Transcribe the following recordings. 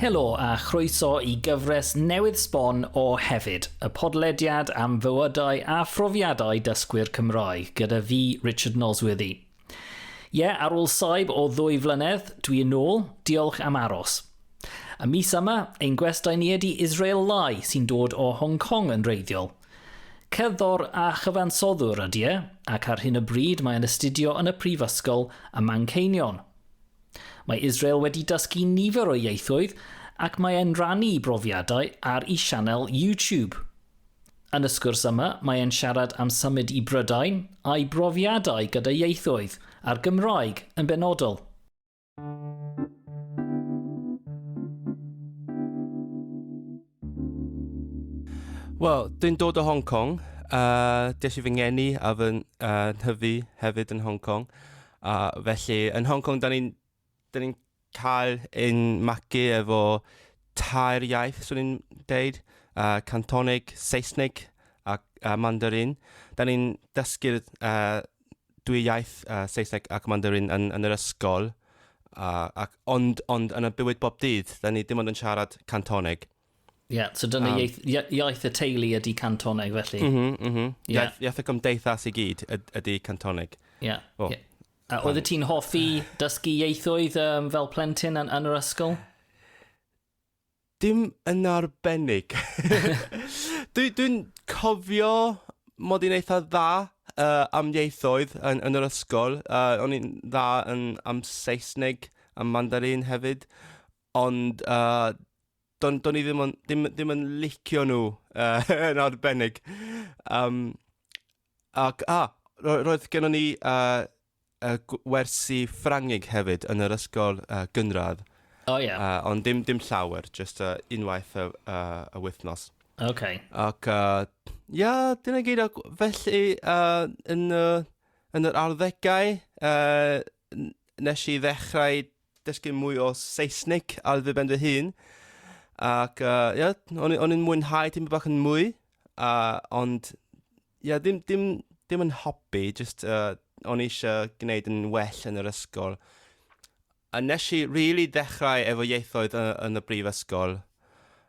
Helo a chroeso i gyfres newydd sbon o Hefyd, y podlediad am fywydau a phrofiadau dysgwyr Cymraeg gyda fi, Richard Nosworthy. Ie, yeah, ar ôl saib o ddwy flynedd, dwi yn ôl, diolch am aros. Y mis yma, ein gwestai ni ydi Israel Lai sy'n dod o Hong Kong yn reiddiol. Cerddor a chyfansoddwr ydy e, ac ar hyn o bryd mae'n astudio yn y Prifysgol ym Manceinion. Mae Israel wedi dysgu nifer o ieithoedd ac mae e'n rannu brofiadau ar i sianel YouTube. Yn y sgwrs yma mae e'n siarad am symud i Brydain a'i brofiadau gyda ieithoedd, a'r Gymraeg yn benodol. Wel, dwi'n dod o Hong Kong. Uh, des i fy ngeni a fy uh, nhyfu hefyd yn Hong Kong. A uh, felly, yn Hong Kong, da ni'n ni cael ein magu efo tair iaith, swn i'n deud, uh, Cantonig, Saesneg a, a Mandarin. Da ni'n dysgu'r uh, dwy iaith, uh, Saesneg ac Mandarin, yn, yn yr ysgol, uh, ac, ond, ond yn y bywyd bob dydd, da ni dim ond yn siarad Cantoneg. Ie, yeah, so dyna um, iaith, iaith y teulu ydy Cantoneg felly. Mm -hmm, mm -hmm. Yeah. Iaith, iaith y gymdeithas i gyd ydy Cantoneg. Ie. Yeah. Oh. Yeah. A oedd ti'n hoffi dysgu ieithoedd um, fel plentyn yn, yn yr ysgol? Dim yn arbennig. Dwi, dwi'n cofio mod i'n eitha dda uh, am ieithoedd yn, yn yr ysgol. Uh, o'n i'n dda yn, am Saesneg, am Mandarin hefyd. Ond uh, do'n do i ddim yn, ddim, ddim yn licio nhw uh, yn arbennig. Um, Ac, a, ro- roedd gennon ni uh, uh, wersi Ffrangig hefyd yn yr ysgol uh, gynradd. O oh, ie. Yeah. Uh, ond dim, dim llawer, just uh, unwaith y, uh, y wythnos. OK. Ac, uh, ia, dyna gyd. Ac felly, uh, yn, uh, yn yr arddegau, uh, nes i ddechrau dysgu mwy o Saesneg ar ddiben fy hun. Ac uh, yeah, o'n, o'n i'n mwynhau dim bach yn mwy, uh, ond yeah, dim, dim, dim yn hobi, just uh, o'n eisiau gwneud yn well yn yr ysgol. A nes i rili really ddechrau efo ieithoedd yn, yn y brifysgol,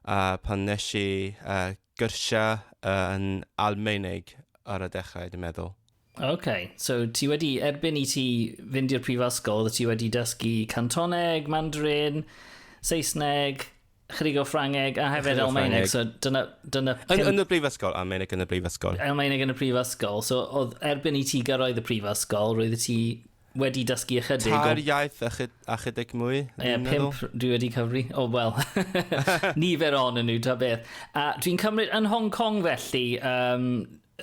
uh, pan nes i uh, gyrsiau uh, yn Almaeneg ar y dechrau, dwi'n meddwl. OK, so ti wedi erbyn i ti fynd i'r prifysgol, ti wedi dysgu Cantoneg, Mandarin, Saesneg, chydig o Ffrangeg a hefyd Almaeneg. So dyna, dyna yn, yn y brifysgol, Almaeneg yn y brifysgol. Almaeneg yn y prifysgol. So oedd erbyn i ti gyrraedd y prifysgol, roedd ti wedi dysgu ychydig... Tair o... iaith a, chyd, a chydig mwy. Ie, yeah, pimp dwi wedi cyfri. O, oh, wel, nifer on yn nhw, ta beth. A dwi'n cymryd yn Hong Kong felly, um,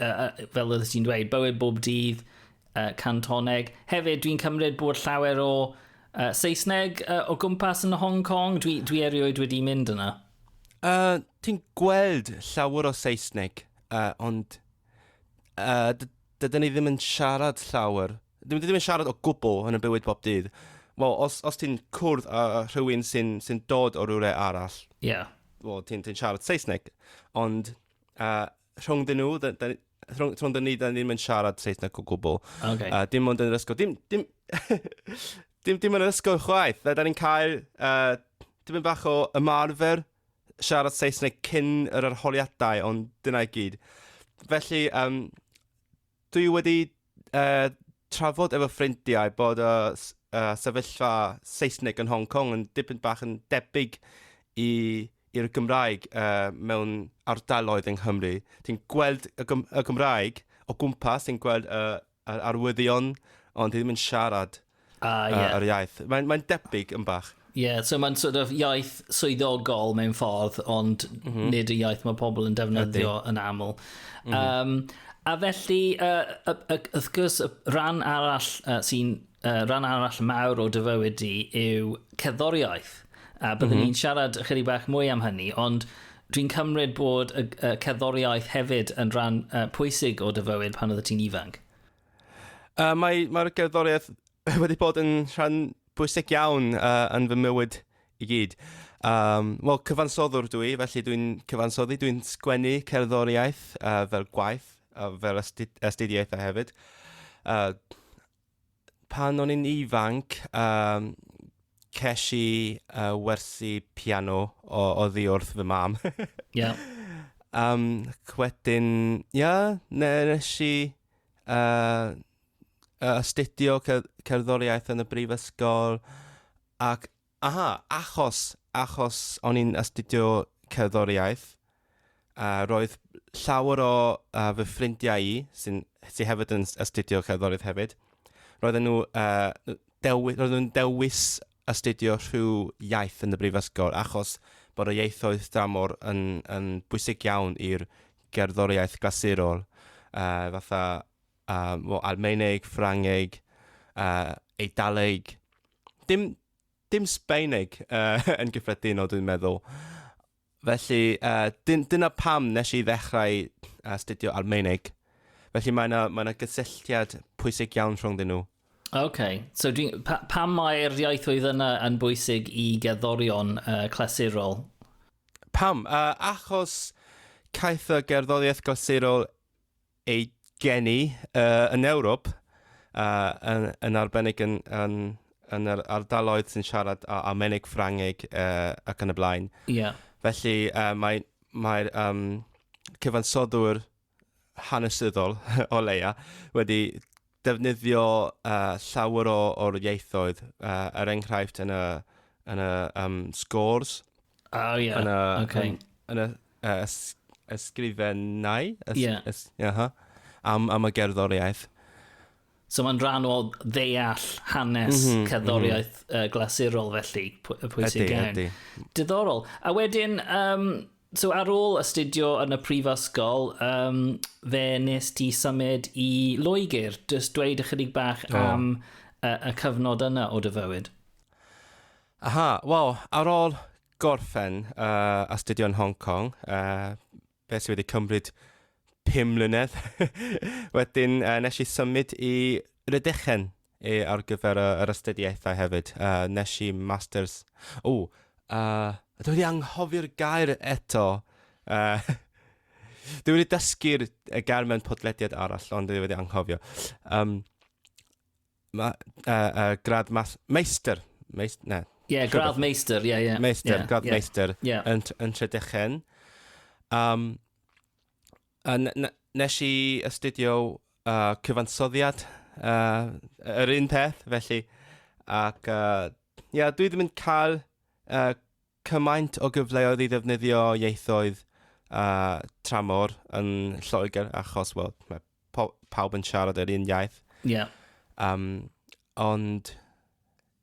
uh, fel oeddet ti'n dweud, bywyd bob dydd, uh, cantoneg. Hefyd, dwi'n cymryd bod llawer o uh, Saesneg uh, o gwmpas yn Hong Kong. Dwi, dwi erioed wedi mynd yna. Uh, ti'n gweld llawer o Saesneg, uh, ond uh, dydyn ni ddim yn siarad llawer. Dydyn ni ddim yn siarad o gwbl yn y bywyd bob dydd. Wel, os, os ti'n cwrdd â uh, rhywun sy'n sy dod o rhywle arall, yeah. well, ti'n ti siarad Saesneg, ond uh, rhwng dyn nhw, da, da, rhwng, rhwng dyn ni, da ni ddim yn siarad Saesneg o gwbl. Okay. Uh, dim ond yn yr ysgol. Dim, dim, dim, dim yn yr ysgol chwaith. Da, da ni'n cael uh, dim yn bach o ymarfer siarad Saesneg cyn yr arholiadau, ond dyna i gyd. Felly, um, Dwi wedi uh, trafod efo ffrindiau bod y uh, sefyllfa Saesneg yn Hong Kong yn dipyn bach yn debyg i i'r Gymraeg uh, mewn ardaloedd yng Nghymru. Ti'n gweld y, Gym y Gymraeg o gwmpas, ti'n gweld uh, arwyddion, ond ti ddim yn siarad. Ah, ie. Yr iaith. Mae'n mae debyg yn bach. Ie, yeah, so mae'n sort of iaith swyddogol mewn ffordd, ond mm -hmm. nid y iaith mae pobl yn defnyddio Ydy. yn aml. Mm -hmm. um, a felly, uh, uh, uh, wrth gwrs, y rhan arall uh, sy'n uh, rhan arall mawr o dyfywyd i yw cerddoriaeth. A byddwn mm -hmm. ni'n siarad ychydig bach mwy am hynny, ond dwi'n cymryd bod y, y cerddoriaeth hefyd yn rhan uh, pwysig o dyfywyd pan oedd ti'n ifanc. Uh, mae, mae'r gerddoriaeth wedi bod yn rhan bwysig iawn uh, yn fy mywyd i gyd. Um, Wel, cyfansoddwr dwi, i, felly dwi'n cyfansoddi, dwi'n sgwennu cerddoriaeth uh, fel gwaith, uh, fel astudiaethau hefyd. Uh, pan o'n i'n ifanc, um, ces i uh, wersi piano o, o ddi wrth fy mam. Ie. yeah. Um, wedyn, ia, yeah, nes i uh, astudio cerddoriaeth yn y brifysgol ac aha, achos, achos o'n i'n astudio cerddoriaeth, uh, roedd llawer o uh, fy ffrindiau i, sy'n sy hefyd yn astudio cerddoriaeth hefyd, roedden nhw uh, dewis, roedden nhw'n dewis astudio rhyw iaith yn y brifysgol achos bod y ieithoedd dramor yn, yn bwysig iawn i'r gerddoriaeth glasurol, uh, fatha uh, well, Almaeneg, Ffrangeg, uh, Eidaleg, dim, dim Sbaeneg uh, yn gyffredinol dwi'n meddwl. Felly, uh, dyn, dyna pam nes i ddechrau astudio Almaeneg. Felly mae yna mae gysylltiad pwysig iawn rhwngddyn nhw. OK. So dwi, pa, pam mae'r iaethwyd yna yn bwysig i gerddorion uh, clasurol? Pam? Uh, achos caeth y gerddoriaeth glasurol ei geni yn Ewrop, yn arbennig yn yr ardaloedd sy'n siarad Almaeneg, Ffrangeg ac yn y blaen. Ie. Felly mae'r cyfansoddwr hanesyddol, o leia', wedi defnyddio uh, llawer o, o'r ieithoedd, uh, er enghraifft yn y, yn y um, scores, oh, yeah. yn y, okay. yn, yn y uh, ys, ysgrifennau, ys, yeah. ys, yeah, huh? am, am y gerddoriaeth. So mae'n rhan o ddeall hanes mm -hmm, cerddoriaeth mm -hmm. uh, glasurol felly, pwysig iawn. Diddorol. A wedyn, um, So ar ôl astudio yn y prifysgol, um, fe nes ti symud i Loegr. Just dweud ychydig bach oh. am y, y cyfnod yna o dy fywyd. Aha, wel, ar ôl gorffen uh, astudio yn Hong Kong, uh, fe sydd wedi cymryd pum mlynedd. Wedyn, uh, nes i symud i Rydechen e ar gyfer y, yr astudiaethau hefyd. Uh, nes i masters... O, uh, dwi wedi anghofio'r gair eto. Uh, dwi wedi dysgu'r gair mewn podlediad arall, ond dwi wedi anghofio. Um, ma, uh, uh, grad mas, meister. Meist, ne. Ie, yeah, grad meister, ie, yeah, ie. Yeah. Meister, yeah, grad yeah. meister yeah. yn, yn Tredechen. Um, A n- n- nes i astudio uh, cyfansoddiad, uh, yr un peth, felly. Ac, uh, ia, dwi ddim yn cael uh, cymaint o gyfleoedd i ddefnyddio ieithoedd uh, tramor yn Lloegr, achos, wel, mae pawb yn siarad yr un iaith. Ie. Yeah. Um, ond,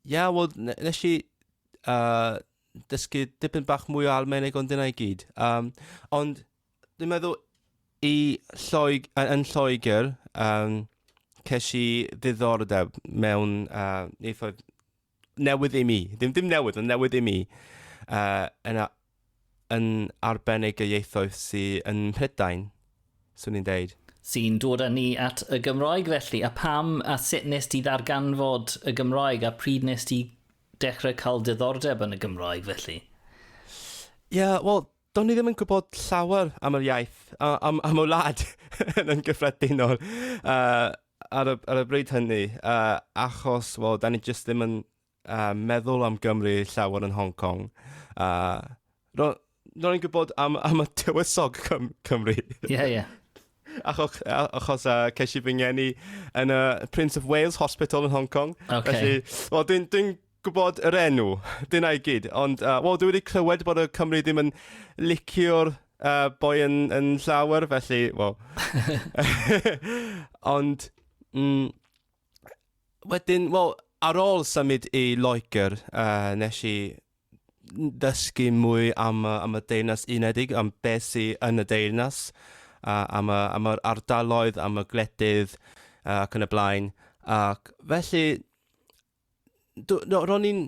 ia, yeah, wel, nes i uh, dysgu dipyn bach mwy o Almaeneg ond dyna i gyd. Um, ond, Dwi'n meddwl i Lloeg- yy yn Lloegr yym ces i ddiddordeb mewn yy ieithoedd newydd i mi. Dim dim newydd ond newydd i mi yy yn a- yn arbennig y ieithoedd sy yn Mhrydain, swn i'n deud. Sy'n dod â ni at y Gymraeg felly. A pam a sut wnest ti ddarganfod y Gymraeg a pryd wnest ti dechrau cael diddordeb yn y Gymraeg felly? Ie wel Do'n i ddim yn gwybod llawer am yr iaith, a am am y wlad yn gyffredinol yy ar y ar y bryd hynny yy achos wel 'dan ni jyst ddim yn yy meddwl am Gymru llawer yn Hong Kong a ro- ro'n i'n gwybod am am y tywysog Cym- Cymru. Ie ie. Achoch- a- achos yy ces i fy ngeni yn y Prince of Wales Hospital yn Hong Kong. Ocê. Felly wel dwi'n dwi'n gwybod yr enw. Dyna i gyd. Ond uh, wel, dwi wedi clywed bod y Cymru ddim yn licio'r uh, boi yn, yn llawer, felly, wel. Ond, mm, wedyn, wel, ar ôl symud i Loegr, uh, nes i ddysgu mwy am, am y deyrnas unedig, am beth sy'n yn y deyrnas, uh, am, y, am yr ardaloedd, am y gwledydd uh, ac yn y blaen. Ac felly, do, do, ro'n i'n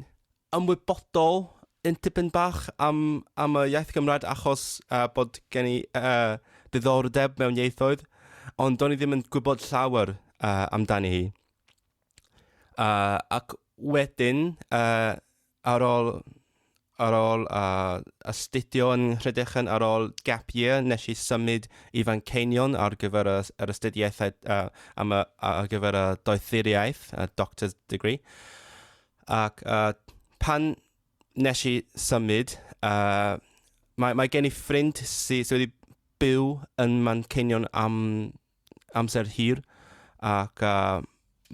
ymwybodol yn tipyn bach am, am y iaith Gymraeg achos uh, bod gen i uh, ddiddordeb mewn ieithoedd, ond do'n i ddim yn gwybod llawer uh, amdani hi. Uh, ac wedyn, uh, ar ôl ar ôl a astudio yn Rhydychen ar ôl gap year, nes i symud i Fanceinion ar gyfer y, yr astudiaethau uh, am y, ar gyfer y doethuriaeth, a doctor's degree. Ac uh, pan nes i symud, uh, mae, mae gen i ffrind sydd sy wedi byw yn Manceinion am amser hir ac yy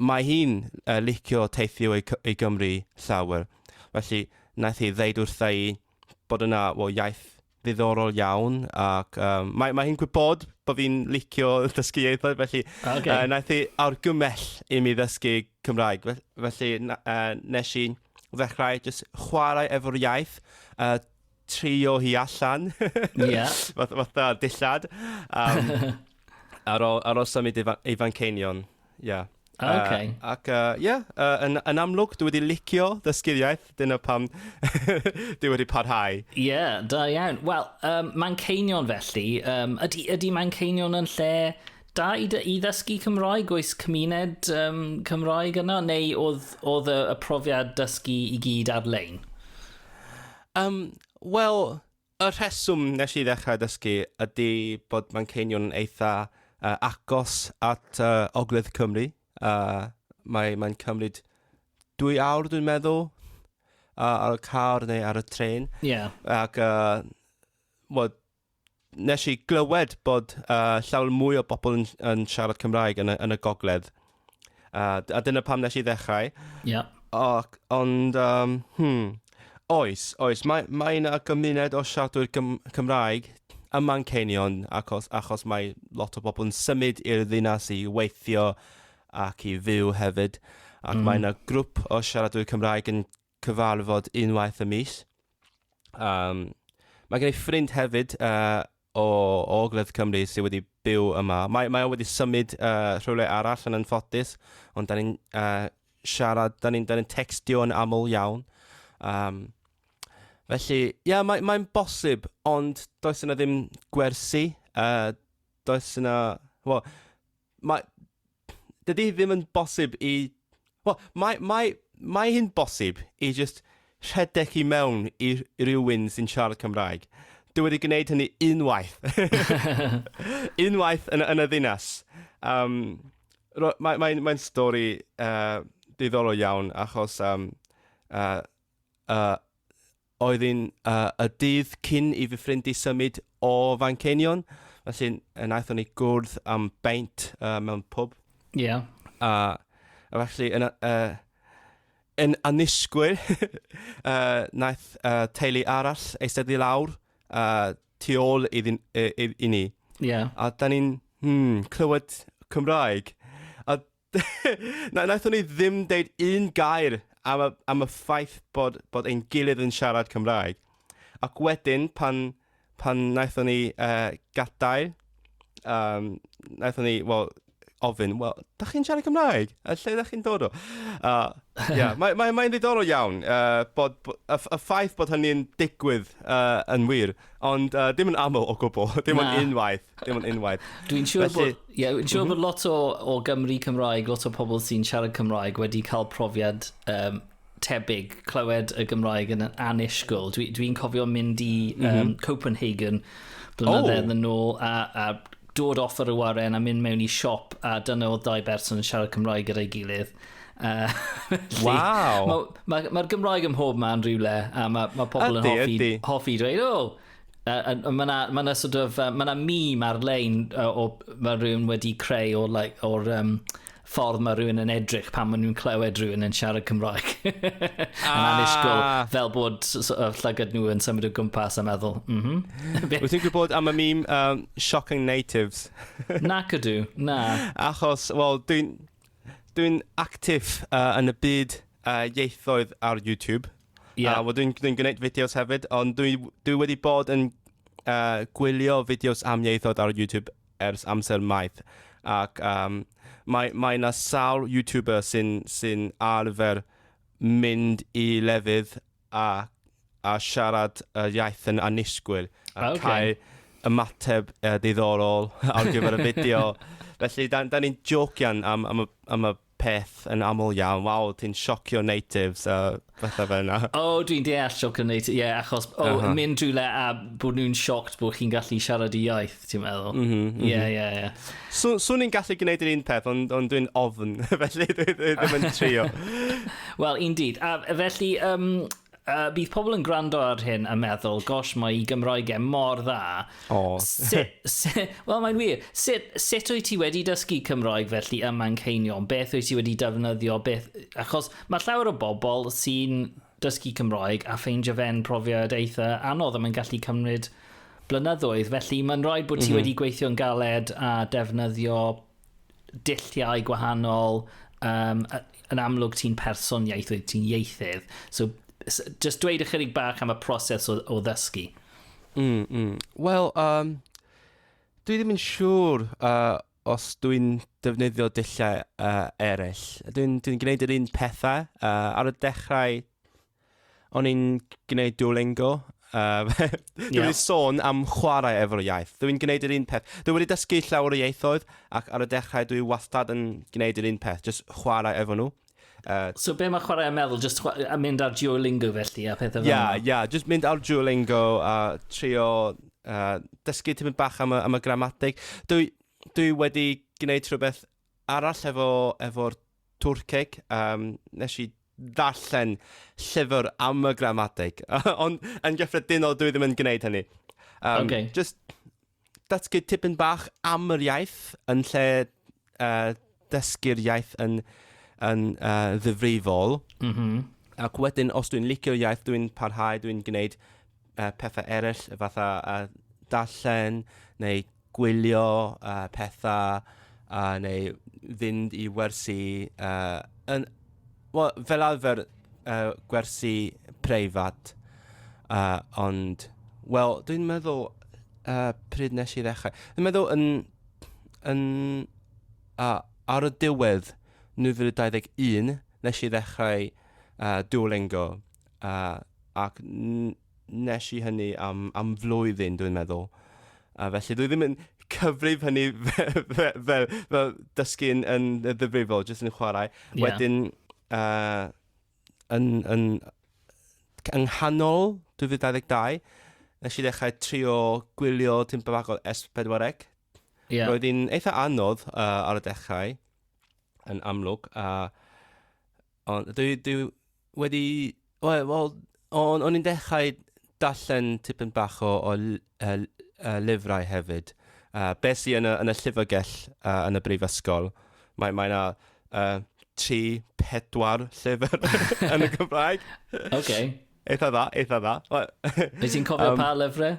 mae hi'n yy licio teithio i Cy- i Gymru llawer. Felly naeth hi ddeud wrtha i bod yna wel iaith ddiddorol iawn ac yy mae mae hi'n gwybod bo' fi'n licio dysgu ieithoedd felly... O ocê. ...yy naeth hi argymell i mi ddysgu Cymraeg fe- felly na- yy nesh i ddechrau jyst chwarae efo'r iaith yy trio hi allan. Ie. Fath- Fatha dillad. Um, ar ôl ar ôl symud i fa- i Fanceinion. Ie. O, Yy, ocê. Ac yy, ie, yy, yn yn amlwg dwi wedi licio dysgu'r iaith, dyna pam dwi wedi parhau. Ie, da iawn. Wel, um, Manceinion felly, um, ydy, ydy Manceinion yn lle da i, dy- i ddysgu Cymraeg? Oes cymuned um, Cymraeg yno? Neu oedd, oedd y, y profiad dysgu i gyd ar-lein? Yym, wel, y rheswm nes i ddechrau dysgu ydy bod Manceinion yn eitha yy agos at yy ogledd Cymru. Yy mae mae'n cymryd dwy awr dwi'n meddwl yy ar y car neu ar y trên. Ie. Ac yy wel Nes i glywed bod uh, llawer mwy o bobl yn, yn siarad Cymraeg yn y, yn y gogledd. Uh, a dyna pam nes i ddechrau. Yeah. Ac, ond, um, hmm, oes, oes, mae, mae yna gymuned o siaradwyr Gym Cymraeg ym Manceinion, achos, achos mae lot o bobl yn symud i'r ddinas i weithio ac i fyw hefyd. Ac mm. mae yna grŵp o siaradwyr Cymraeg yn cyfarfod unwaith y mis. Um, mae gen i ffrind hefyd uh, o, o Ogledd Cymru sydd wedi byw yma. Mae, mae o wedi symud uh, rhywle arall yn anffodus, ond da ni'n uh, siarad, da ni'n ni textio yn aml iawn. Um, felly, ie, yeah, mae'n mae bosib, ond does yna ddim gwersi, uh, does yna, well, Mae... Dydy hi ddim yn bosib i... Wel, mae, mae, mae hi'n bosib i jyst rhedeg i mewn i rhywun sy'n siarad Cymraeg. Dwi wedi gwneud hynny unwaith. unwaith yn, yn y ddinas. Um, Mae'n mae, mae stori uh, diddorol iawn achos um, uh, uh, oedd un y dydd cyn i fy ffrind i symud o Fanceinion. Felly, wnaethon ni gwrdd am beint uh, mewn pub. Ie. Yeah. A, a felly, yn, uh, yn anisgwyl, uh, naeth uh, teulu arall eistedd i lawr uh, tu ôl i, i, i, i ni. Yeah. A da ni'n hmm, clywed Cymraeg. A Na, wnaethon ni ddim deud un gair am y, am y ffaith bod, bod ein gilydd yn siarad Cymraeg. Ac wedyn, pan, pan wnaethon ni uh, gadael, um, wnaethon ni, wel, ofyn, wel, da chi'n siarad Cymraeg? A lle da chi'n dod o? Uh, yeah, Mae'n mae, mae ddiddorol iawn uh, bod, bod, y, y ffaith bod hynny'n digwydd uh, yn wir, ond uh, dim yn aml o gwbl, dim ond unwaith. Dim ond unwaith. Dwi'n siŵr Felly... bod, yeah, dwi'n siŵr mm -hmm. bod lot o, o Gymru Cymraeg, lot o pobl sy'n siarad Cymraeg wedi cael profiad um, tebyg clywed y Gymraeg yn anishgol. Dwi'n dwi, cofio mynd i um, mm -hmm. Copenhagen blynyddoedd oh. yn ôl a, a dod off ar y waren a mynd mewn i siop a dyna oedd dau berson yn siarad Cymraeg gyda'i gilydd. Uh, wow! Mae'r ma, ma, ma Gymraeg ym mhob man rhywle a mae ma pobl ydy, yn hoffi, hoffi dweud, oh, Uh, and, and mae'n ma na sort of, uh, mae'n meme ar-lein uh, o, mae rhywun wedi creu o'r like, or, um, ffordd mae rhywun yn edrych pan maen nhw'n clywed rhywun yn siarad Cymraeg. ah. Yn anusgol, fel bod llygad nhw yn symud o gwmpas a meddwl. Mm -hmm. Wyt ti'n gwybod am y meme um, Shocking Natives? na cydw, na. Achos, wel, dwi'n dwi actif uh, yn y byd uh, ieithoedd ar YouTube. Ie. A wel dwi'n dwi'n gwneud fideos hefyd, ond dwi dwi wedi bod yn uh, gwylio fideos am ieithod ar YouTube ers amser maith. Ac um, mae, mae na sawl YouTuber sy'n sy arfer mynd i lefydd a, a siarad y iaith yn annisgwyl. A okay. cael ymateb uh, diddorol ar gyfer y fideo. Felly, da, da ni'n jocian am, am, y, am y peth yn aml iawn, waw ti'n siocio natives a fatha fe yna. O, oh, dwi'n deall siocio natives, ie, yeah, achos o, oh, uh -huh. mynd rhywle a bod nhw'n sioct bod chi'n gallu siarad y iaith, ti'n meddwl? Mhm, mhm. Ie, mm -hmm, ie, ie. Yeah, yeah. Swn i'n gallu gwneud yr un peth, ond on dwi'n ofn, felly dwi ddim yn trio. Wel, indeed. A felly, um, Uh, bydd pobl yn gwrando ar hyn a meddwl, gosh, mae i Gymraeg e mor dda. O. Wel, mae'n wir. Sut, sut wyt ti wedi dysgu Cymraeg felly ym Manceinion? Beth wyt ti wedi defnyddio? Beth... Achos mae llawer o bobl sy'n dysgu Cymraeg a ffeindio fe'n profiad eitha anodd a mae'n gallu cymryd blynyddoedd. Felly mae'n rhaid bod ti mm -hmm. wedi gweithio'n galed a defnyddio dulliau gwahanol, um, yn amlwg ti'n person ieithoedd, ti'n ieithydd. So, just dweud ychydig bach am y proses o, o ddysgu. Mm, mm. Wel, um, dwi ddim yn siŵr uh, os dwi'n defnyddio dulliau uh, eraill. Dwi'n dwi gwneud yr un pethau. Uh, ar y dechrau, o'n i'n gwneud Duolingo. Uh, dwi'n yeah. wedi sôn am chwarae efo'r iaith. Dwi'n gwneud yr un peth. Dwi wedi dysgu llawer o ieithoedd ac ar y dechrau dwi wastad yn gwneud yr un peth, just chwarae efo nhw. Uh, so be mae chwarae yn meddwl? Just a mynd ar Duolingo felly a pethau fel yna? Ia, ia, just mynd ar Duolingo a trio uh, dysgu tymid bach am y, am y gramatig. Dwi, dwi wedi gwneud rhywbeth arall efo, efo'r Twrceg, um, nes i ddarllen llyfr am y gramadeg. Ond yn gyffredinol, dwi ddim yn gwneud hynny. Um, okay. Just datgu tipyn bach am yr iaith yn lle uh, dysgu'r iaith yn, yn uh, ddifrifol. Mm -hmm. Ac wedyn, os dwi'n licio'r iaith, dwi'n parhau, dwi'n gwneud uh, pethau eraill, fatha uh, darllen neu gwylio pethau neu fynd i wersi, wel fel arfer gwersi preifat ond wel dwi'n meddwl pryd wnes i ddechrau? Dwi'n meddwl yn yn ar y diwedd 2021 wnes i ddechrau Duolingo ac n-... Wnes i hynny am, am flwyddyn, dwi'n meddwl. A felly, dwi ddim yn cyfrif hynny fel, fel, fel, fel dysgu'n yn ddifrifol, jyst yn chwarae. Yeah. Wedyn, uh, yn, yn, yng nghanol 2022, nes i ddechrau trio gwylio tyn bach o S4C. Yeah. Roedd hi'n eitha anodd uh, ar y dechrau, yn amlwg, a Ond dwi, dwi wedi... Wel, wel o'n, o'n i'n dechrau darllen tipyn bach o, o l- y, l- y lyfrau hefyd. Uh, be sy yn y, yn y llyfrgell uh, yn y brifysgol, mae, mae yna uh, tri, pedwar llyfr yn y Gymraeg. OK. Eitha dda, eitha dda. Wyt ti'n cofio um, pa lyfrau?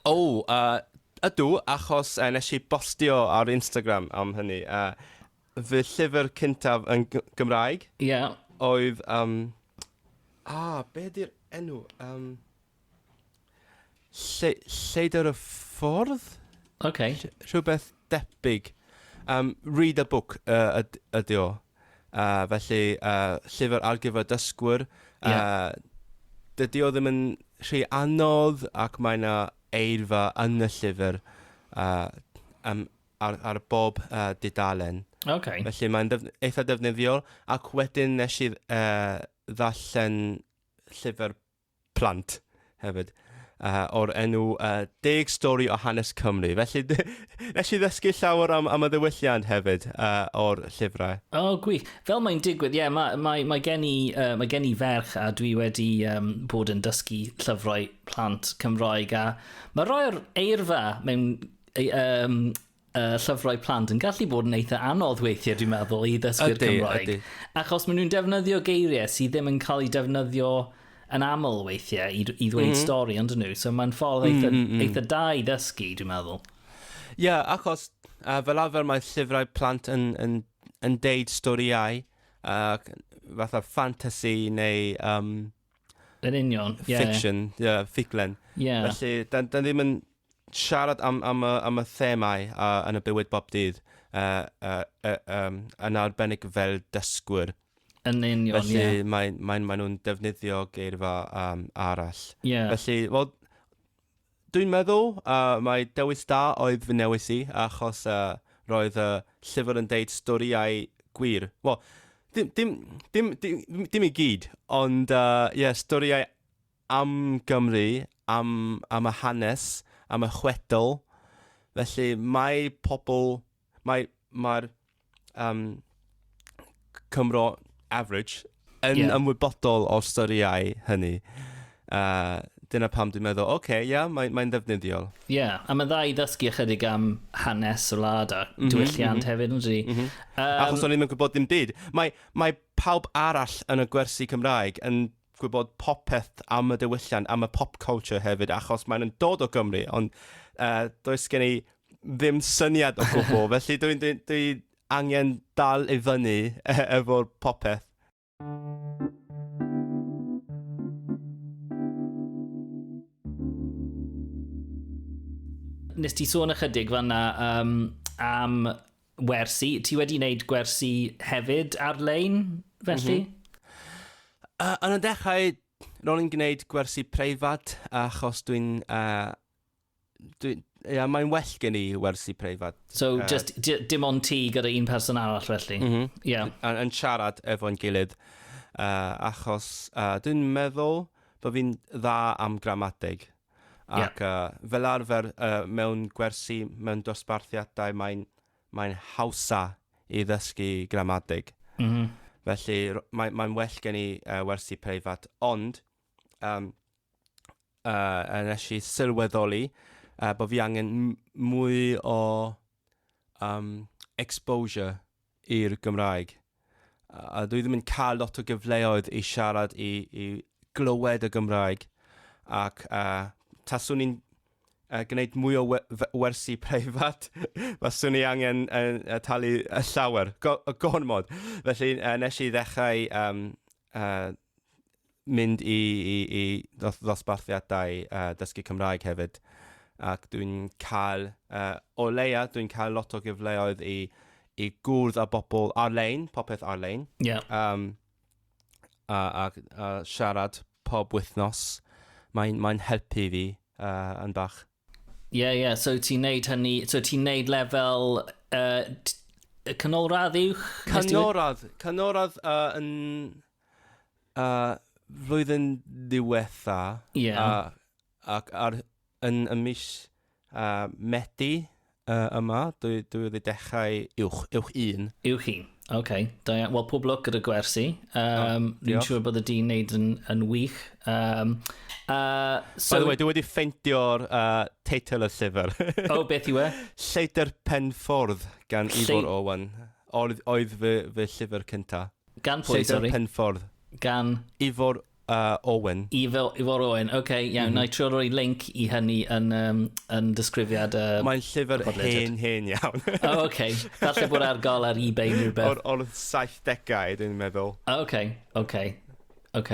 O, oh, uh, ydw, achos uh, nes i bostio ar Instagram am hynny. Uh, fy llyfr cyntaf yn G- Gymraeg... Ie. ...oedd yym a be' 'di'r enw yym lle- Lleidr y Ffordd? Oce. Rh- rhywbeth debyg. Yym Read a Book yy yd- ydi o. Yy felly yy llyfr ar gyfer dysgwyr. Yy... Ie. ...dydi o ddim yn rhy anodd ac mae 'na eirfa yn y llyfr yy yym ar, ar bob uh, dudalen. Okay. Felly mae'n def, eitha defnyddiol. Ac wedyn nes i uh, ddarllen llyfr plant hefyd uh, o'r enw uh, Deg Stori o Hanes Cymru. Felly, nes i ddysgu llawer am, am y ddiwylliant hefyd uh, o'r llyfrau. O, oh, gwych. Fel mae'n digwydd, ie, yeah, mae, mae, mae, gen i, uh, mae gen i ferch a dwi wedi um, bod yn dysgu llyfrau plant Cymroeg a mae rhoi'r eirfa mewn ei, um, uh, llyfrau plant yn gallu bod yn eitha anodd weithiau, dwi'n meddwl, i ddysgu'r Cymraeg. Ydy. Achos maen nhw'n defnyddio geiriau sydd ddim yn cael ei defnyddio yn aml weithiau i, i ddweud mm -hmm. stori, ond nhw. So mae'n ffordd eitha, mm -hmm. eitha da i ddysgu, dwi'n meddwl. Ie, yeah, achos uh, fel arfer mae llyfrau plant yn, yn, yn deud storiau, uh, fatha fantasy neu um, Yn union, ie. Fiction, ie, yeah, ffuglen. Ie. Yeah. Felly, da, da ddim yn siarad am, am, y, am y themau uh, yn y bywyd bob dydd uh, uh, uh, um, yn arbennig fel dysgwyr. Yn union, Felly, ie. Felly, maen, maen, maen nhw'n defnyddio geirfa um, arall. Ie. Yeah. Felly, wel, Dwi'n meddwl uh, mai dewis da oedd fy newis i, achos uh, roedd y llyfr yn deud storïau gwir. Wel, dim, dim, dim, dim, dim i gyd, ond uh, yeah, storïau am Gymru, am, am y hanes, am y chwedl. Felly mae pobl Mae, mae'r um, Cymro average yn yeah. ymwybodol o styriau hynny. Uh, dyna pam dwi'n meddwl, oce, okay, ia, yeah, mae'n mae ddefnyddiol. Ie, yeah, a mae'n dda i ddysgu ychydig am hanes y lad a mm -hmm, diwylliant mm -hmm. hefyd, ynddi. Mm -hmm. um, Achos o'n i'n gwybod dim byd. Mae, mae pawb arall yn y gwersi Cymraeg yn gwybod popeth am y diwylliant, am y pop culture hefyd, achos mae'n dod o Gymru, ond uh, does gen i ddim syniad o gwbl, felly dwi'n dwi, dwi angen dal i fyny e, efo'r popeth. Nes ti sôn ychydig fanna um, am wersi. Ti wedi wneud gwersi hefyd ar-lein, felly? Mm -hmm. uh, yn y dechrau, ro'n i'n gwneud gwersi preifat achos dwi'n uh, Dwi'n... Ia, mae'n well gen i wersi preifat. So, uh, just dim ond ti gyda un person arall felly? Mm -hmm. yeah. Yn, yn siarad efo'n gilydd. Uh, achos uh, dwi'n meddwl bod fi'n dda am gramadeg. Ac yeah. uh, fel arfer uh, mewn gwersi, mewn dosbarthiadau, mae'n mae hawsa i ddysgu gramadeg. Mm -hmm. Felly, mae'n mae well gen i uh, wersi preifat. Ond, um, uh, a nes i sylweddoli uh, bod fi angen mwy o um, exposure i'r Gymraeg. A dwi ddim yn cael lot o gyfleoedd i siarad i, i glywed y Gymraeg ac uh, taswn i'n uh, gwneud mwy o wersi preifat, faswn i angen uh, talu y llawer, go, gormod. Felly uh, nes i ddechrau um, uh, mynd i, i, i ddosbarthiadau uh, dysgu Cymraeg hefyd. Ac dwi'n cael, uh, o leia, dwi'n cael lot o gyfleoedd i, i gwrdd â bobl ar-lein, popeth ar-lein. Yeah. Um, a, a, a siarad pob wythnos. Mae'n mae helpu fi uh, yn bach. Ie, yeah, ie. Yeah. So ti'n neud hynny... So ti'n neud lefel... Uh, y canolradd yw? Canolradd. Canolradd uh, yn... Uh, flwyddyn diwetha. Ie. Yeah. Uh, ac ar, yn y mis uh, Medi. Uh, yma, dwi, dwi wedi dechrau uwch, uwch un. Uwch un, oce. Okay. Da iawn. Wel, pob lwc gyda gwersi. Um, oh, Ni'n siŵr bod y di'n neud yn, yn wych. Um, uh, so... By the way, dwi wedi ffeindio'r uh, teitl y llyfr. o, oh, beth yw e? Lleidr Penffordd gan Lle... Ifor Owen. Oedd, oedd fy, fy llyfr cyntaf. Gan pwy, sori? Lleidr Penffordd. Gan? Ifor uh, Owen. Ifor, Ifor Owen, ok, iawn, mm -hmm. na i trio roi link i hynny yn, um, yn disgrifiad uh, Mae'n llyfr hen, hen iawn. o, oh, ok, falle bod ar gael ar eBay neu rhywbeth. O'r, or 70au, dwi'n meddwl. O, ok, ok, ok.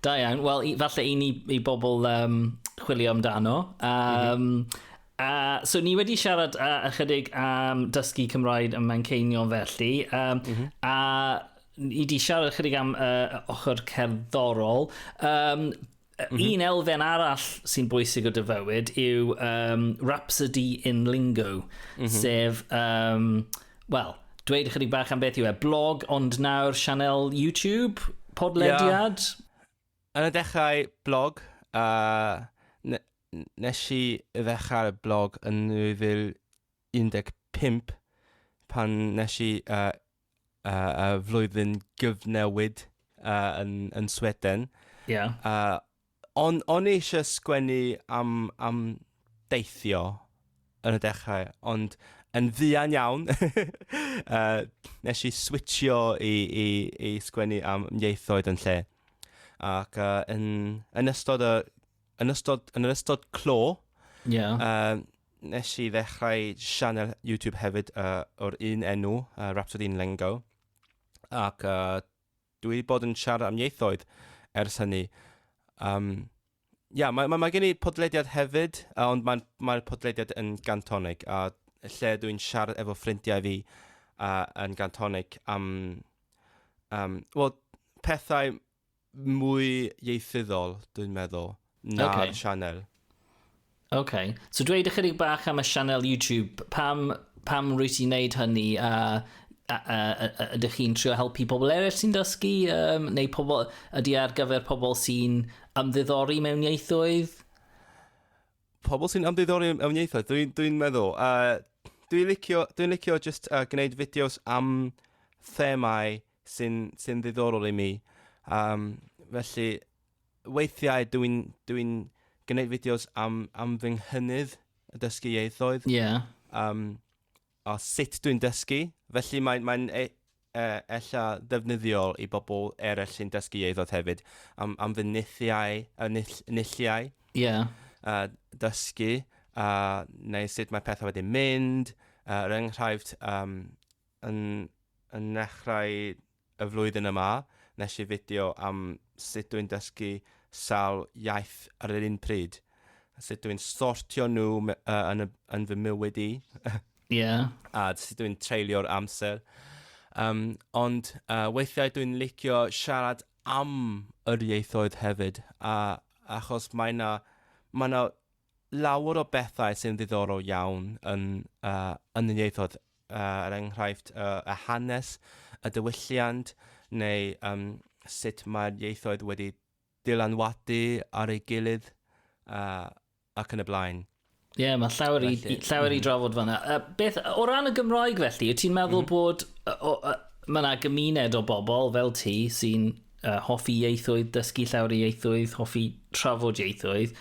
Da iawn, wel, falle i ni, i bobl um, chwilio amdano. Um, mm -hmm. Uh, so ni wedi siarad uh, ychydig am um, dysgu Cymraeg ym Manceinion felly, um, mm -hmm. a ni di siarad chydig am uh, ochr cerddorol. Um, Mm -hmm. Un elfen arall sy'n bwysig o dyfywyd yw um, Rhapsody in Lingo, mm -hmm. sef, um, wel, dweud ychydig bach am beth yw e, blog ond nawr sianel YouTube, podlediad? Yeah. Yn y dechrau blog, uh, nes i ddechrau'r blog yn 2015 pan nes i uh, uh, y flwyddyn gyfnewid uh, yn, yn Sweden. Yeah. Uh, on, on eisiau sgwennu am, am deithio yn y dechrau, ond yn ddian iawn, uh, nes i switchio i, i, i sgwennu am ieithoedd yn lle. Ac uh, yn, yn ystod y yn ystod, yn ystod clo, yeah. uh, Nes i ddechrau sianel YouTube hefyd uh, o'r un enw, uh, Rhapsody in Lengo. Ac uh, dwi wedi bod yn siarad am ieithoedd ers hynny. Um, yeah, mae, mae, mae gen i podlediad hefyd, uh, ond mae'r mae podlediad yn gantonig, a lle dwi'n siarad efo ffrindiau fi uh, yn gantonig am... Um, Wel, pethau mwy ieithyddol, dwi'n meddwl, na'r okay. sianel. Oce. Okay. So dweud ychydig bach am y sianel YouTube. Pam, pam rwy ti'n neud hynny a, a, a, a, a ydych chi'n trio helpu pobl eraill sy'n dysgu um, neu pobl, ydy ar gyfer pobl sy'n ymddiddori mewn ieithoedd? Pobl sy'n ymddiddori mewn ieithoedd, dwi'n dwi, meddwl. Uh, dwi'n licio, dwi licio just uh, gwneud fideos am themau sy'n sy'n ddiddorol i mi. Um, felly, weithiau dw i'n dw i'n gwneud fideos am am fy nghynydd y dysgu ieithoedd. Ie. Yeah. Um, a sut dwi'n dysgu. Felly mae'n mae e, e, ella ddefnyddiol i bobl eraill sy'n dysgu ieithoedd hefyd am am fy nithiau y nill nilliau. Ie. Yeah. Uh, dysgu, uh, neu sut mae pethau wedi mynd, uh, er enghraifft, um, Yn yn nechrau y flwyddyn yma, nes i fideo am sut dwi'n dysgu sawl iaith ar yr un pryd, a sut dwi'n sortio nhw me- yy yn y yn fy mywyd i, Ie. a sut dwi'n treulio'r amser. Um, ond uh, weithiau dwi'n licio siarad am yr ieithoedd hefyd, a achos mae na, mae na lawer o bethau sy'n ddiddorol iawn yn yn y ieithoedd, er enghraifft y hanes, y diwylliant, neu yym sut mae'r ieithoedd wedi dylanwadu ar ei gilydd ac yn y blaen. Ie, yeah, mae llawer, felly, i, llawer mm. i drafod fanna. Uh, beth, o ran y Gymraeg felly, wyt ti'n meddwl mm. bod... O, o, mae yna gymuned o bobl fel ti sy'n uh, hoffi ieithoedd, dysgu llawer o ieithoedd, hoffi trafod ieithoedd,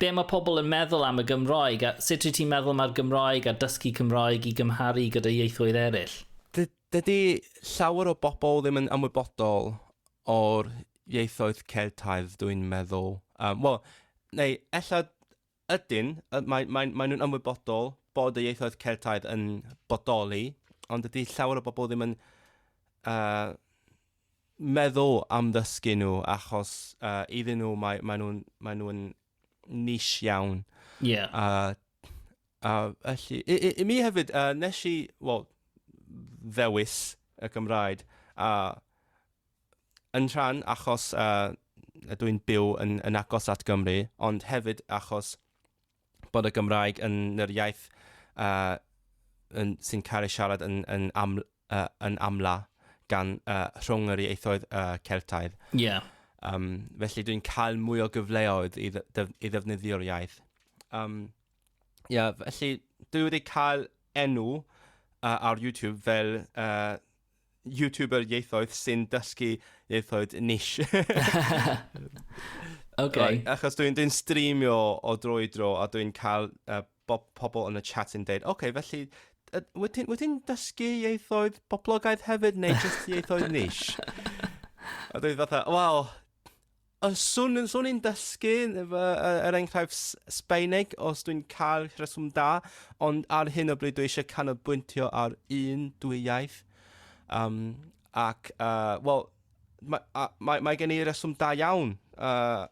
be mae pobl yn meddwl am y Gymraeg a sut rydych ti'n meddwl mae'r Gymraeg a dysgu Cymraeg i gymharu gyda ieithoedd eraill? Dydy llawer o bobl ddim yn ymwybodol o'r ieithoedd Celtaidd, dwi'n meddwl. Um, Wel, neu ella Ydyn, mae, mae, mae nhw'n ymwybodol bod y ieithoedd Celtaidd yn bodoli, ond ydy llawer o bobl ddim yn uh, meddwl am ddysgu nhw achos uh, iddyn nhw mae, mae nhw'n mae nhw niche iawn. Yeah. Uh, uh, felly, i, i, i mi hefyd, uh, nes i, wel, ddewis y Gymraeg a yn rhan achos uh, ydw i'n byw yn, yn agos at Gymru, ond hefyd achos bod y Gymraeg yn yr iaith uh, yn, sy'n cael ei siarad yn, yn, am, uh, yn amla gan uh, rhwng yr ieithoedd uh, Celtaidd. Yeah. Um, felly dwi'n cael mwy o gyfleoedd i, ddyf i ddefnyddio'r iaith. Um, yeah, felly dwi wedi cael enw uh, ar YouTube fel uh, YouTuber ieithoedd sy'n dysgu ieithoedd niche. OK. Right, achos dwi'n dwi streamio o dro i dro a dwi'n cael uh, bob, pobl yn y chat yn dweud, OK, felly, uh, wyt ti'n ti dysgu ieithoedd poblogaidd hefyd neu jyst ieithoedd niche? a dwi'n fatha, wel, Os swn i'n swn i'n dysgu fy yy er enghraifft S- Sbaeneg os dwi'n cael rheswm da, ond ar hyn o bryd dwi eisiau canolbwyntio ar un dwy iaith. Um, ac, uh, wel, mae, a, mae, mae gen i reswm da iawn, uh,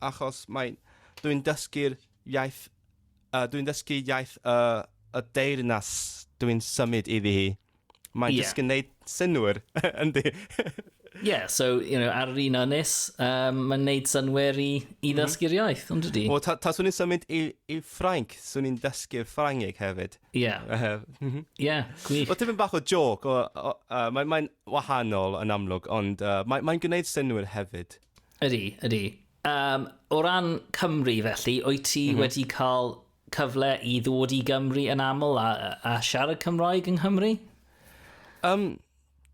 achos mae, dwi'n dysgu'r iaith, uh, dwi'n dysgu iaith uh, y deyrnas dwi'n symud iddi hi. Mae'n yeah. just yn gwneud synwyr, yndi. yeah, so, you know, ar yr un ynys, um, mae'n gwneud synwyr i, i mhm. ddysgu'r iaith, ond ydy. O, ta, ta swn i'n symud i, i Ffrainc, swn i'n dysgu Ffrangeg hefyd. Ie. Yeah. Mhm. Ie, gwych. O, tipyn bach o joc, o, o, uh, mae'n mae wahanol yn amlwg, ond uh, mae'n mae gwneud synwyr hefyd. Ydy, ydy. Um, o ran Cymru felly, wyt ti mm -hmm. wedi cael cyfle i ddod i Gymru yn aml a, a siarad Cymraeg yng Nghymru? Um,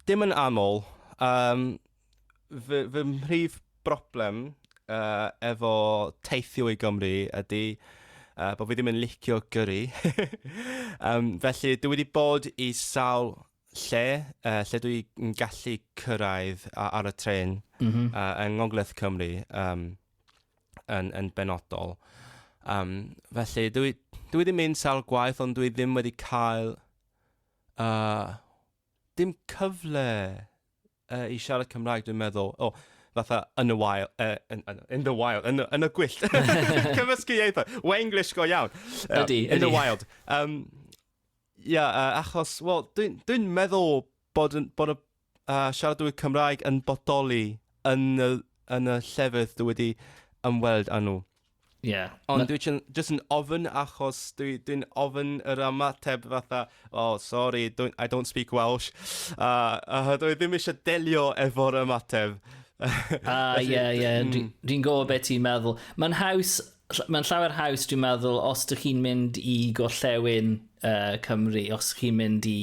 dim yn aml. Um, fy, fy mhrif broblem uh, efo teithio i Gymru ydy uh, bod fi ddim yn licio gyrru. um, felly, dwi wedi bod i sawl lle, uh, lle dwi yn gallu cyrraedd ar y tren mm -hmm. uh, yng Ngogledd Cymru um, yn, yn benodol. Um, felly, dwi, dwi wedi mynd sawl gwaith, ond dwi ddim wedi cael uh, dim cyfle Yy, i siarad Cymraeg, dwi'n meddwl, o, fatha yn y wael, uh, in, in the wild, yn, yn y gwyllt. Cymysgu ieithoedd. Wenglish go iawn. Uh, ydy, ydy. In the wild. Um, yeah, uh, achos, wel, dwi'n dwi, dwi meddwl bod, bod y uh, siaradwyr Cymraeg yn bodoli yn y, yn y llefydd dwi wedi ymweld â nhw. Ie. Ond dwi jyst yn ofyn achos dwi, dwi'n ofyn yr ymateb fatha, oh, sorry, don't, I don't speak Welsh. A, a dwi ddim eisiau delio efo'r ymateb. A, ie, ie, mm. dwi'n dwi gwybod beth ti'n meddwl. Mae'n haws, mae'n llawer haws, dwi'n meddwl, os dych chi'n mynd i gollewin uh, Cymru, os chi'n mynd i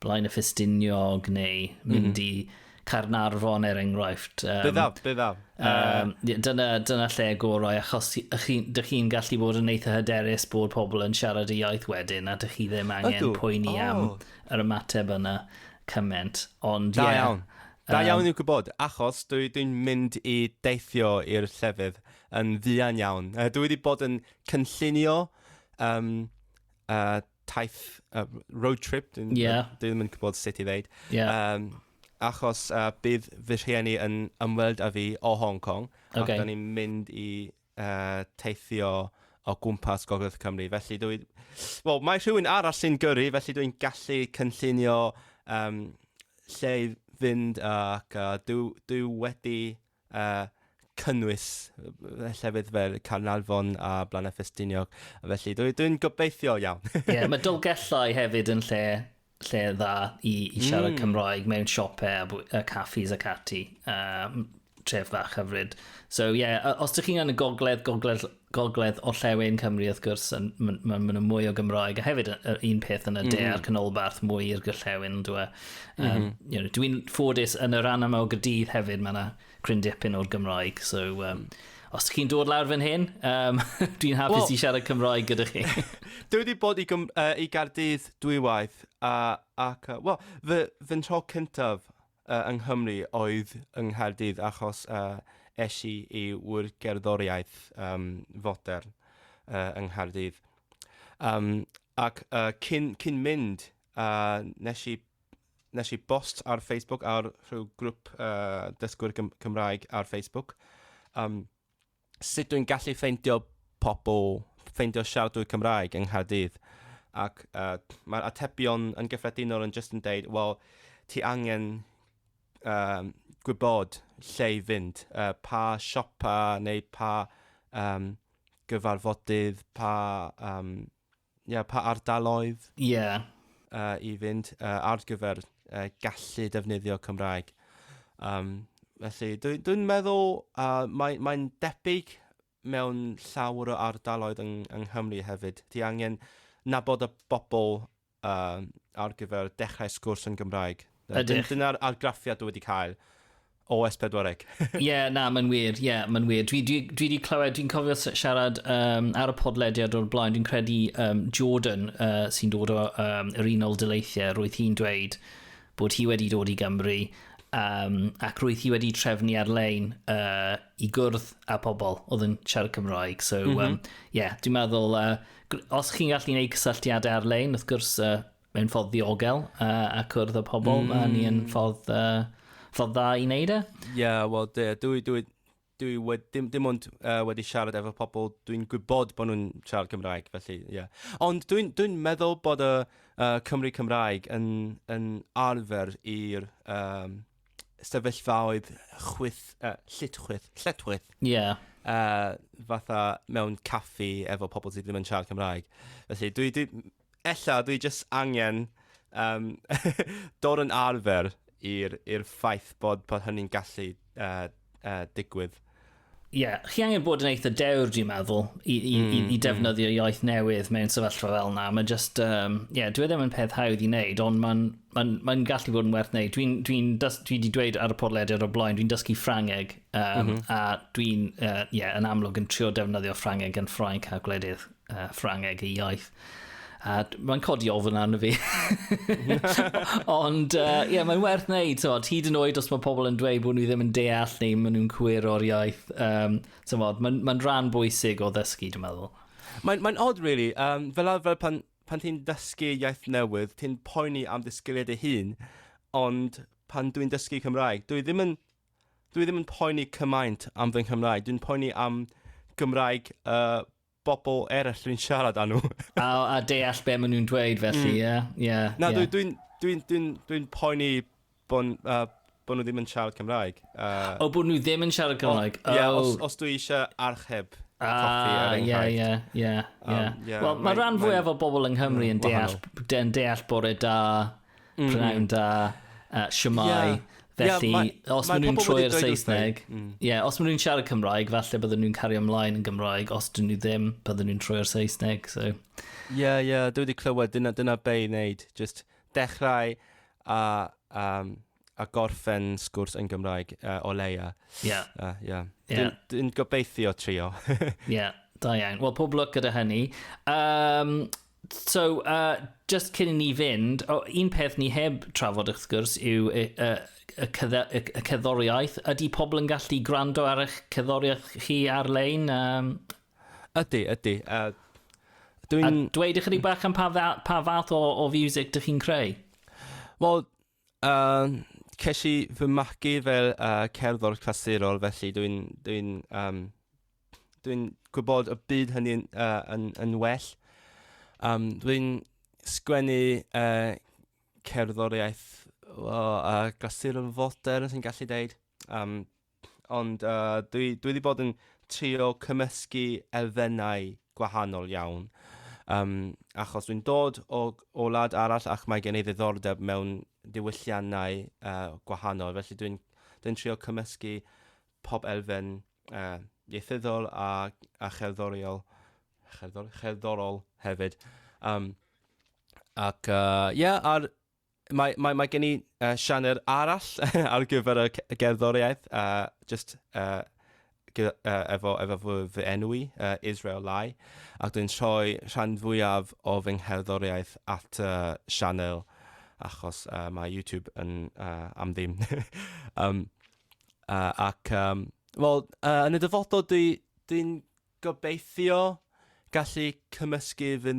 Blaen y Ffestiniog neu mhm. mynd mm -hmm. i Carnarfon er enghraifft. Um, byddaw, byddaw. Um, uh, dyna, dyna lle gorau, achos ydych chi'n gallu bod yn eitha hyderus bod pobl yn siarad y iaith wedyn, a ydych chi ddim angen Ydw. poeni oh. am yr ymateb yna cymaint. Ond, da yeah, iawn. Da um, iawn i'w gwybod, achos dwi dwi'n mynd i deithio i'r llefydd yn ddian iawn. Uh, dwi wedi bod yn cynllunio um, uh, taith, uh, road trip, dyn yeah. dwi ddim yn gwybod sut i ddeud. Yeah. Um, achos uh, bydd fy rhieni yn ymweld â fi o Hong Kong, okay. ac da ni'n mynd i uh, teithio o gwmpas Gogledd Cymru. Felly dwi... Wel, mae rhywun arall sy'n gyrru, felly dwi'n gallu cynllunio um, lle i fynd ac uh, dwi, dwi wedi uh, cynnwys llefydd fel Carnarfon a Blaen Ffestiniog. Felly, dwi'n dwi gobeithio iawn. Ie, yeah, mae Dolgellau hefyd yn lle, lle dda i, i siarad mm. Cymraeg mewn siopau a, caffis ac ati. Uh, tref fach hyfryd. So, ie, yeah, os ydych chi'n yn y gogledd, gogledd gogledd orllewin Cymru wrth gwrs, yn, ma, ma, ma nhw mwy o Gymroeg, a hefyd yr un peth yn y de mm -hmm. a'r canolbarth mwy i'r gorllewin, yn dweud. Um, mm -hmm. you know, Dwi'n ffodus yn y rhan yma o gydydd hefyd, mae yna cryn dipyn o'r Gymroeg, so... Um, mm os chi'n dod lawr fan hyn, um, dwi'n hapus well, i siarad Cymroeg gyda chi. dwi wedi bod i, gym, uh, i Gardydd dwywaith, a, ac, uh, wel, fy, fy tro cyntaf yng Nghymru oedd yng Nghaerdydd achos es i i ŵyr gerddoriaeth fodern yng Nghaerdydd. Yym ac cyn cyn mynd nes i nes i bost ar Facebook ar rhyw grŵp dysgwyr Cymraeg ar Facebook yym sut dwi'n gallu ffeindio pobl, ffeindio siaradwyr Cymraeg yng Nghaerdydd. Ac uh, mae'r atebion yn gyffredinol yn just yn deud, wel, ti angen um, gwybod lle i fynd, uh, pa siopa neu pa um, gyfarfodydd, pa um, yeah, pa ardaloedd yeah. uh, i fynd uh, ar gyfer uh, gallu defnyddio Cymraeg. Um, felly, dwi'n dwi meddwl uh, mae'n mae debyg mewn llawer o ardaloedd yng, yng Nghymru hefyd. Ti angen nabod y bobl uh, ar gyfer dechrau sgwrs yn Gymraeg. Dyna'r argraffiad dwi wedi cael. OS 40. Ie, na, mae'n wir, ie, mae'n wir. Dwi, dwi, dwi wedi clywed, dwi'n cofio siarad um, ar y podlediad o'r blaen, dwi'n credu um, Jordan uh, sy'n dod o um, yr unol dyleithiau, roedd hi'n dweud bod hi wedi dod i Gymru um, ac roedd hi wedi trefnu ar-lein uh, i gwrdd â pobl oedd yn siarad Cymraeg. So, mm -hmm. um, yeah, dwi'n meddwl, uh, os chi'n gallu gwneud cysylltiadau ar-lein, wrth gwrs, uh, mewn ffordd ddiogel uh, a cwrdd o pobl, mm. mae ni yn mm. ffordd, uh, ffordd dda i wneud e. Ie, yeah, wel, dwi, dwi, dwi, dwi wedi, dim, dim ond uh, wedi siarad efo pobl, dwi'n gwybod bod nhw'n siarad Cymraeg, felly, ie. Yeah. Ond dwi'n dwi, meddwl bod y uh, Cymru Cymraeg yn, yn arfer i'r um, sefyllfaoedd chwyth, uh, llitchwyth, lletwyth. Ie. Yeah. Uh, fatha mewn caffi efo pobl sydd ddim yn siarad Cymraeg. Felly, dwi, dwi, Ella dwi jyst angen um, dod yn arfer i'r ffaith bod, bod hynny'n gallu uh, uh, digwydd. Ie, yeah, chi angen bod yn eitha dewr, dwi'n meddwl, i, i, mm, i, i mm. defnyddio mm. iaith newydd mewn sefyllfa fel yna. Mae'n just, um, yeah, dwi e ddim yn peth hawdd i wneud, ond mae'n ma ma gallu bod yn werth wneud. Dwi'n dwi, dwi di dweud ar y podlediad o blaen, dwi'n dysgu Ffrangeg, um, mm -hmm. a dwi'n, uh, yeah, yn amlwg yn trio defnyddio Ffrangeg yn Ffrainc a gwledydd uh, Ffrangeg y iaith. A mae'n codi ofyn arno fi. Ond, ie, uh, yeah, mae'n werth wneud, tywod, hyd yn oed os mae pobl yn dweud bod nhw ddim yn deall neu maen nhw'n cwyr o'r iaith. Um, tywod, mae'n ma rhan bwysig o ddysgu, dwi'n meddwl. Mae'n mae odd, really. Um, fel arfer, pan, pan ti'n dysgu iaith newydd, ti'n poeni am ddysgiliad ei hun, ond pan dwi'n dysgu Cymraeg, dwi ddim yn, dwi ddim yn poeni cymaint am fy Nghymraeg. Dwi'n poeni am Gymraeg uh, bobl eraill dwi'n siarad â nhw. a, a deall be maen nhw'n dweud felly, mm. ie. Mm. Yeah, yeah, Na, yeah. dwi'n dwi, dwi, dwi, dwi poeni bod uh, bo nhw ddim yn siarad Cymraeg. Uh, o, bod nhw ddim yn siarad Cymraeg? Ie, yeah, os, os dwi eisiau archeb Ah, ie, ie, ie. Um, Wel, mae rhan fwyaf o bobl yng Nghymru yn deall, yn deall bore da mm. prynawn da, uh, siamai. Yeah. Felly, yeah, ma, os maen nhw'n troi i'r Saesneg, mm. yeah, os maen nhw'n siarad Cymraeg, falle bydden nhw'n cario ymlaen yn Gymraeg, os dyn nhw ddim, bydden nhw'n troi i'r Saesneg. So. yeah, yeah, dwi wedi clywed, dyna, dyna be i wneud. Just dechrau a um, a gorffen sgwrs yn Gymraeg uh, o leia. Ie. Yeah. Uh, yeah. yeah. Dwi'n gobeithio trio. Ie, yeah, da iawn. Wel, pob lwc gyda hynny. Um, so, uh, just cyn i ni fynd, oh, un peth ni heb trafod wrth gwrs yw y, y, y, y, y ceddoriaeth. Ydy pobl yn gallu gwrando ar eich ceddoriaeth chi ar-lein? Um... Ydy, ydy. Uh, Dwi'n... A dweud ychydig bach am pa, pa fath o, o music dych chi'n creu? Wel, A ces i fy magu fel uh, cerddor clasurol, felly dwi'n dwi um, dwi gwybod y byd hynny yn, uh, yn, yn well. Um, dwi'n sgwennu uh, cerddoriaeth o, uh, glasurol foter, os i'n gallu dweud. Um, Ond uh, dwi, dwi wedi bod yn trio cymysgu elfennau gwahanol iawn. Um, achos dwi'n dod o, o lad arall ac mae gen i ddiddordeb mewn diwylliannau uh, gwahanol. Felly dwi'n dwi trio cymysgu pob elfen uh, ieithyddol a, a cherddoriol, cherddor, cherddorol hefyd. Um, ac, ie, uh, yeah, ar Mae, mae, mae gen i uh, sianr arall ar gyfer y gerddoriaeth, uh, just uh, gyda, uh, efo, efo fy, fy enw i, uh, Israel Lai, ac dwi'n troi rhan fwyaf o fy ngherddoriaeth at uh, sianel, achos uh, mae YouTube yn uh, am ddim. um, uh, ac, um, wel, uh, yn y dyfodol, dwi'n dwi, Gobeithio gallu cymysgu fy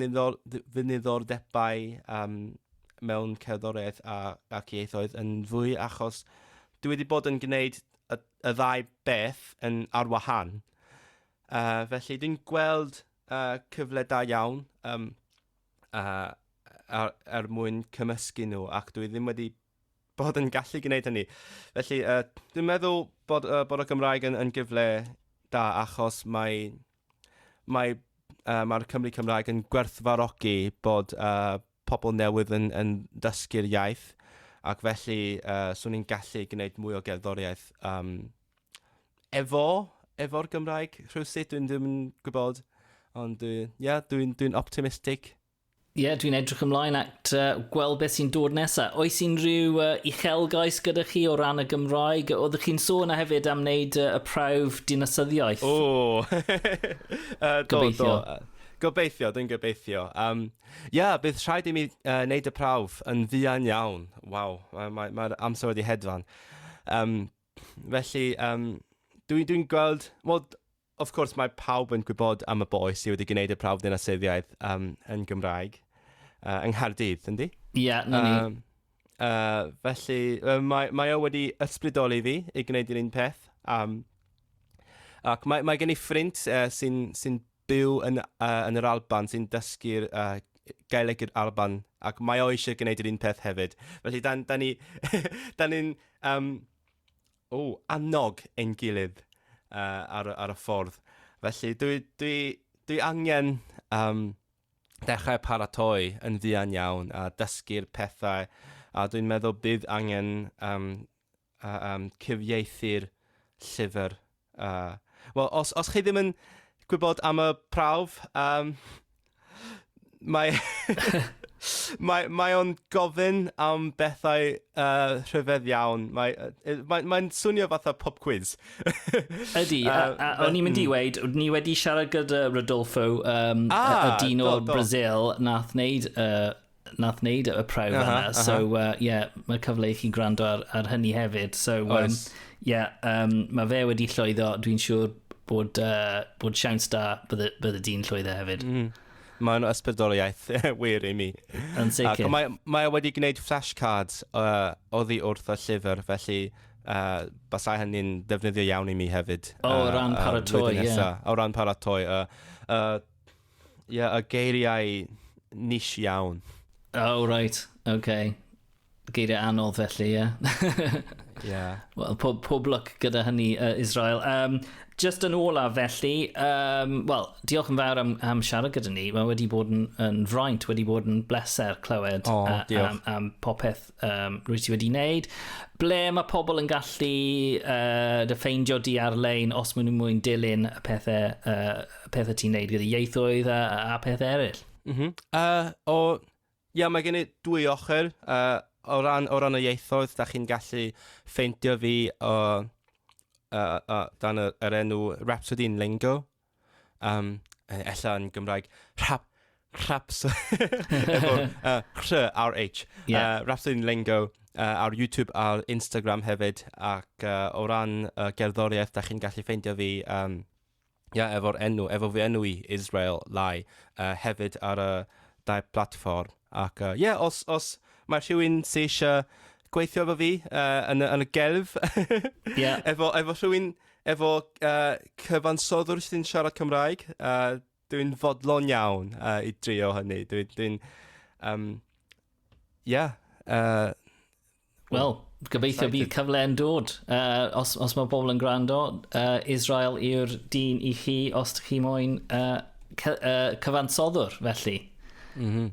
niddordebau mewn cerddoriaeth ac ieithoedd yn fwy achos dwi wedi bod yn gwneud y ddau beth yn ar wahân. Felly dwi'n gweld cyfle da iawn er mwyn cymysgu nhw ac dwi ddim wedi bod yn gallu gwneud hynny. Felly, uh, dwi'n meddwl bod, uh, bod y Gymraeg yn, yn gyfle da achos mae, mae, uh, mae'r Cymru Cymraeg yn gwerthfarogi bod uh, pobl newydd yn, yn dysgu'r iaith ac felly uh, swn i'n gallu gwneud mwy o gerddoriaeth um, efo, efo'r Gymraeg rhywsut, dwi'n ddim yn gwybod, ond dwi'n yeah, dwi, dwi optimistig Ie, yeah, dwi'n edrych ymlaen at uh, gweld beth sy'n dod nesaf. Oes unrhyw uh, uchelgais gyda chi o ran y Gymraeg? Oeddech chi'n sôn a hefyd am wneud uh, y prawf dinasyddiaeth? O! uh, gobeithio. Do, do. Gobeithio, dwi'n gobeithio. Um, yeah, bydd rhaid i mi uh, wneud y prawf yn fuan iawn. Waw, mae'r mae, mae amser wedi hedfan. Um, felly, um, dwi'n dwi gweld... Well, Wrth gwrs, mae pawb yn gwybod am y boi sydd wedi gwneud y prawf ddinasyddiaeth um, yn Gymraeg uh, yng Nghaerdydd, yndi? Ie, yeah, na ni. Um, uh, felly, uh, mae, mae o wedi ysbrydoli fi i gwneud yr un peth. Um, ac mae, mae gen i ffrind uh, sy'n sy byw yn, uh, yn yr Alban, sy'n dysgu'r uh, gaeleg yr Alban, ac mae o eisiau gwneud yr un peth hefyd. Felly, da, da ni'n ni, da ni um, o, annog ein gilydd uh, ar, y, ar y ffordd. Felly dwi, dwi, dwi angen um, dechrau paratoi yn fuan iawn a dysgu'r pethau a dwi'n meddwl bydd angen um, uh, um, cyfieithu'r llyfr. Uh, Wel, os, os chi ddim yn gwybod am y prawf, um, Mae... mae, mae o'n gofyn am bethau uh, rhyfedd iawn. Mae, uh, mae, mae'n swnio fatha pop quiz. Ydy, a, a, a o'n i'n mynd i mm. weid, ni wedi siarad gyda Rodolfo, um, ah, y dyn o'r Brazil, nath wneud uh, nath wneud y prawf uh -huh, yna. Uh -huh. So, uh, yeah, mae cyfle i chi gwrando ar, ar hynny hefyd. So, um, yeah, um, mae fe wedi llwyddo. Dwi'n siŵr bod, uh, bod siawns da bydde, bydde di'n llwyddo hefyd. Mm. Mae'n ysbrydoliaeth wir i mi. Yn sicr. Ac mae, mae wedi gwneud flashcards uh, oddi wrth y llyfr, felly uh, basau hynny'n defnyddio iawn i mi hefyd. O, uh, ran paratoi, ie. Yeah. O ran paratoi. Uh, uh, Ie, yeah, y geiriau nish iawn. Oh, right, okay. Geiriau anodd felly, ie. Yeah. yeah. Wel, pob, pob lwc gyda hynny, uh, Israel. Um, just yn ola felly, um, wel, diolch yn fawr am, am siarad gyda ni. Mae wedi bod yn, yn fraint, wedi bod yn bleser clywed oh, uh, am, am popeth um, rwyt ti wedi wneud. Ble mae pobl yn gallu uh, dy ffeindio di ar-lein os maen nhw'n mwyn dilyn y pethau, uh, pethau ti'n neud gyda ieithoedd a, a pethau eraill? Mm -hmm. uh, o, ia, mae gen i dwy ochr. Uh, o, ran, o ran y ieithoedd, da chi'n gallu ffeindio fi o, uh, uh, dan yr, yr enw Rhapsody in Lingo Um, ella yn Gymraeg, rhap, raps, efo uh, rh, RH, yeah. uh, Rhapsody Lingo uh, ar YouTube a'r Instagram hefyd, ac uh, o ran uh, gerddoriaeth, da chi'n gallu ffeindio fi um, yeah, efo'r enw, efo fi enw i Israel Lai, uh, hefyd ar y dau platfform. Ac uh, yeah, os, os mae rhywun sy'n eisiau gweithio efo fi uh, yn, y, yn y gelf. yeah. efo, efo rhywun, efo uh, cyfansoddwr sy'n siarad Cymraeg. Uh, dwi'n fodlon iawn uh, i drio hynny. Dwi'n... Dwi um, yeah. Uh, Wel, gobeithio bydd cyfle yn dod. Uh, os, os mae bobl yn gwrando, uh, Israel yw'r dyn i chi os ydych chi moyn uh, cy, uh, cyfansoddwr, felly. Mm -hmm.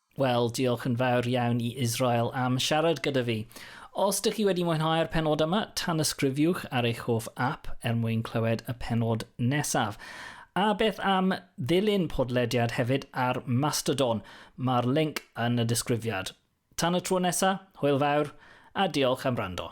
Wel, diolch yn fawr iawn i Israel am siarad gyda fi. Os dych chi wedi mwynhau'r penod yma, tanysgrifiwch ar eich hoff app er mwyn clywed y penod nesaf. A beth am ddilyn podlediad hefyd ar Mastodon? Mae'r link yn y disgrifiad. Tan y tro nesaf, hwyl fawr, a diolch am rando.